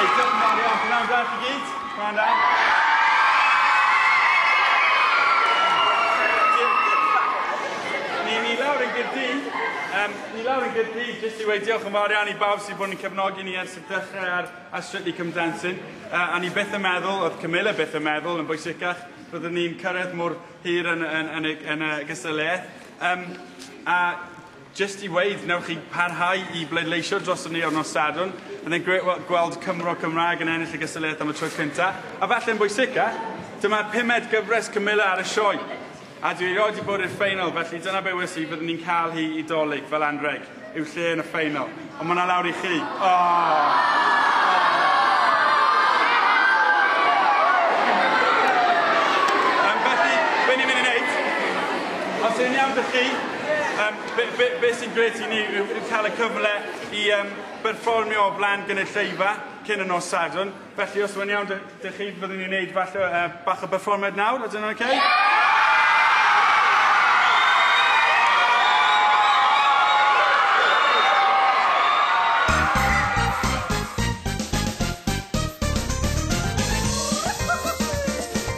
Hey, diolch yn fawr iawn. Gwnawn da chi gyd. Gwnawn da. Ni, ni lawr yn gyrdi. Um, ni lawr yn gyrdi, jyst i weid diolch yn fawr iawn i bawb sydd bod yn cefnogi ni ers y dechrau ar, ar Strictly Come Dancing. Uh, a ni beth yn meddwl, oedd Camilla beth yn meddwl yn bwysicach, byddwn ni'n cyrraedd mor, hir yn, yn, yn, y, yn y gystadleuaeth. Um, a just i weid, newch chi parhau i bleidleisio dros ni o'r nos Sadwn. And then great gweld Cymro Cymraeg yn ennill y gystadleuaeth am y tro cyntaf. A falle yn bwysica, dyma'r pumed gyfres Camilla ar y sioe. A dwi erioed wedi bod i'r ffeinal, felly dyna be wnes i, byddwn ni'n cael hi i dolyg fel anreg. yw lle yn y ffeinal, ond mae 'na lawr i chi. Oh! Os yw'n iawn dych chi, um, be, be, be sy'n gret i ni yw, yw cael y cyfle i um, berfformio o flaen gynulleidfa cyn y nos Sadwrn. Felly os mae'n iawn dych chi, fyddwn ni'n neud falle uh, bach o berfformiad nawr, ydyn nhw'n okay?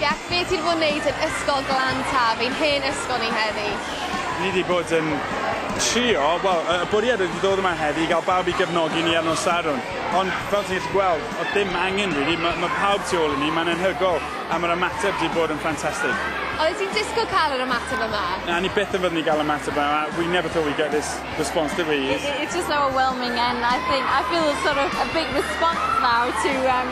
Jac, be ti 'di bod yn neud yn Ysgol Glan Taf, ein hen ysgol ni heddi? Ni 'di bod yn trio, wel, y bwriad oedd i ddod yma heddi i gael bawb i gefnogi ni ar nos Sadwrn, ond fel ti'n gallu gweld, oedd dim angen rili, ma' ma' pawb tu ôl i ni, mae'n anhygoel. a mae'r ymateb 'di bod yn ffantastig. Oeddet ti'n disgwyl cael yr ymateb yma? Na, ni byth yn fyddwn i gael ymateb yma. Uh, we never thought we'd get this response, did we? It, it, it's just overwhelming and I think I feel sort of a big response now to um,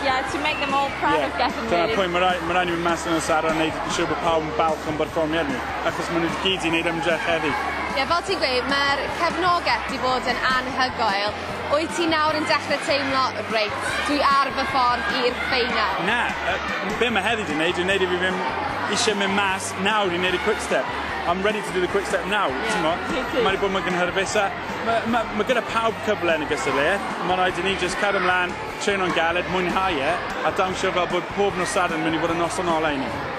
yeah, to make them all proud yeah. of getting me. Dyna'r pwynt, mae rai, ma rai ni fynd mas yn y Sara yn gwneud yn siŵr bod pawb yn balch o'n berfformiad ni, achos maen nhw wedi gyd i wneud ymdrech heddi. Ie, fel ti'n gweud, mae'r cefnogaeth wedi bod yn anhygoel. Wyt ti nawr yn dechrau teimlo, 'Reit, dwi ar fy ffordd i'r ffeinal'? Na, yy, be' ma' heddi 'di neud yw neud i fi ddim isie mynd mas nawr i neud y quick step. I'm ready to do the quick step now, t'mo'? Ie, me too. Mae 'di bod mor gynhyrfus a ma' ma' ma' gyda pawb cyfle yn y gystadleuaeth, ma' raid i ni jyst cario mlan, treno'n galed, mwynhau e, a dawnsio fel bod pob nos Sadwrn myn' i fod yn noson ola i ni.